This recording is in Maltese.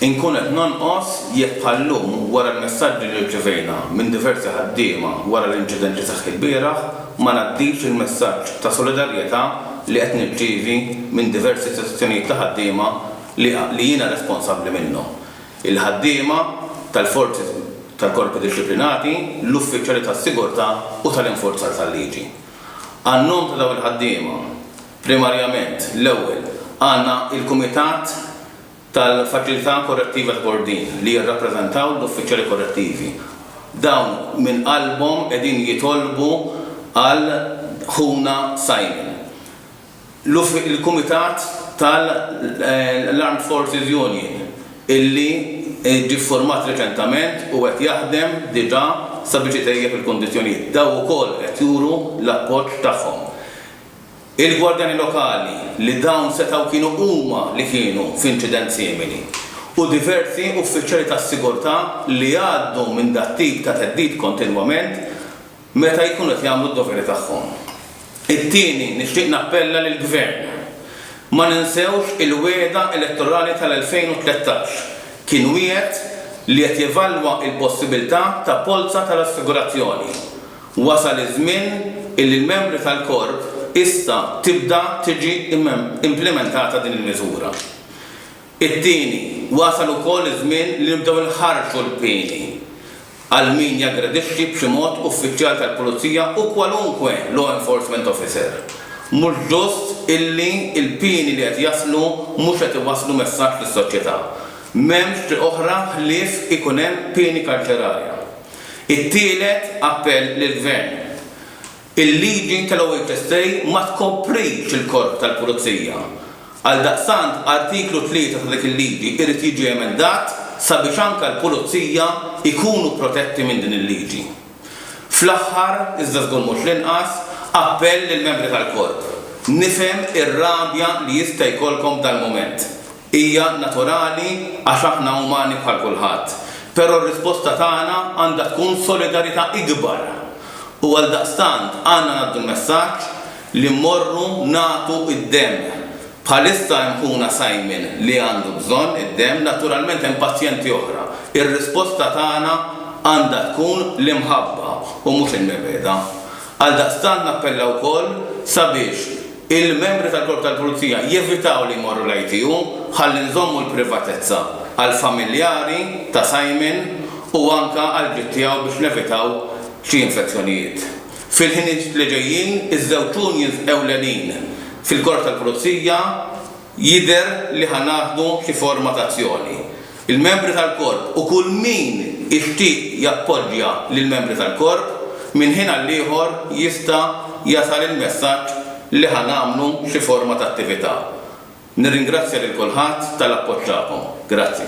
Inkun qed nonqos jekk bħal-lum, wara l-messaġġi li rċevejna minn diversi ħaddiema wara l-inċident li seħħ ilbieraħ, ma ngħaddix il-messaġġ ta' solidarjetà li qed nirċievi minn diversi istituzzjonijiet ta' ħaddiema li jiena responsabbli minnhom, il-ħaddiema tal-forzi tal-korpi dixxiplinati, l-uffiċjali tas-sigurtà u tal-infurzar tal-liġi. Għan-nom ta' dawn il-ħaddiema, Primarjament, l-ewwel, għandna l-Kumitat tal-Faċilità Korrettiva ta' Kordin li jirrappreżentaw l-uffiċjali korrettivi. Dawn minn qalbhom qegħdin jitolbu għal ħuna Simon. Il-Kumitat tal-Armed Forces Union illi ġie ffurmat reċentament u qed jaħdem diġà sabiex itejjeb il-kundizzjonijiet. Dawn ukoll qed juru l-appoġġ tagħhom. Il-gwardjani lokali li dawn setgħu kienu huma li kienu f'inċident simili u diversi uffiċjali tas-sigurtà li jgħaddu minn dat-tip ta' theddid kontinwament meta jkunu qed jagħmlu d-doveri tagħhom. It-tieni, nixtieq nappella lill-Gvern, ma ninsewx il-wegħda elettorali tal-2013. Kien wiegħed li qed jevalwa l-possibiltà ta' polza tal-assigurazzjoni. Wasal iż-żmien illi l-membri tal-Korp issa tibda tiġi implimentata din il-miżura. It-tieni, wasal ukoll iż-żmien li nibdew inħarrġu l-pieni għal min jaggredixxi b'xi mod uffiċjal tal-pulizija u kwalunkwe law enforcement officer. Mhux ġust illi l-pieni li qed jaslu mhux qed iwasslu messaġġ lis-soċjetà. M'hemmx triq oħra ħlief ikun hemm pieni karċerarja. It-tielet appell lill-Gvern, il-liġi tal-OHSA ma tkoprix il-Korp tal-Pulizija. Għaldaqstant, Artiklu 3 ta' dik il-liġi irid jiġi emendat sabiex anke l-Pulizija jkunu protetti minn din il-liġi. Fl-aħħar, iżda żgur mhux l-inqas, appell lill-membri tal-Korp. Nifhem ir-rabja li jista' jkollkom f'dal-mument. Hija naturali għax aħna umani bħal kulħadd. Però r-risposta tagħna għandha tkun solidarità ikbar. U għaldaqstant għandna ngħaddu l-messaġġ li mmorru nagħtu d-demm. Bħalissa hemm ħuna Simon li għandu bżonn id-demm, naturalment hemm pazjenti oħra. Ir-risposta tagħna għandha tkun l-imħabba u mhux il-mibgħeda. Għaldaqstant nappella wkoll sabiex, Il-membri tal-Korp tal-Pulizija jevitaw li jmorru l-ITU ħalli nżommu l-privatezza għall-familjari ta' Simon u anke għall-ġid tiegħu biex nevitaw xi infezzjonijiet. Fil-ħiniet li ġejjin, iż-żewġ unions ewlenin fil-Korp tal-Pulizija, Jidher li ħa naħdu xi forma ta' azzjoni. Il-membri tal-korp u kull min ixtieq jappoġġja lill-membri tal-korp, minn ħin għall-ieħor jista' jasal il-messaġġ li ħa nagħmlu xi forma ta' attività. Nirringrazzja lil kulħadd tal-appoġġ tagħkom. Grazzi.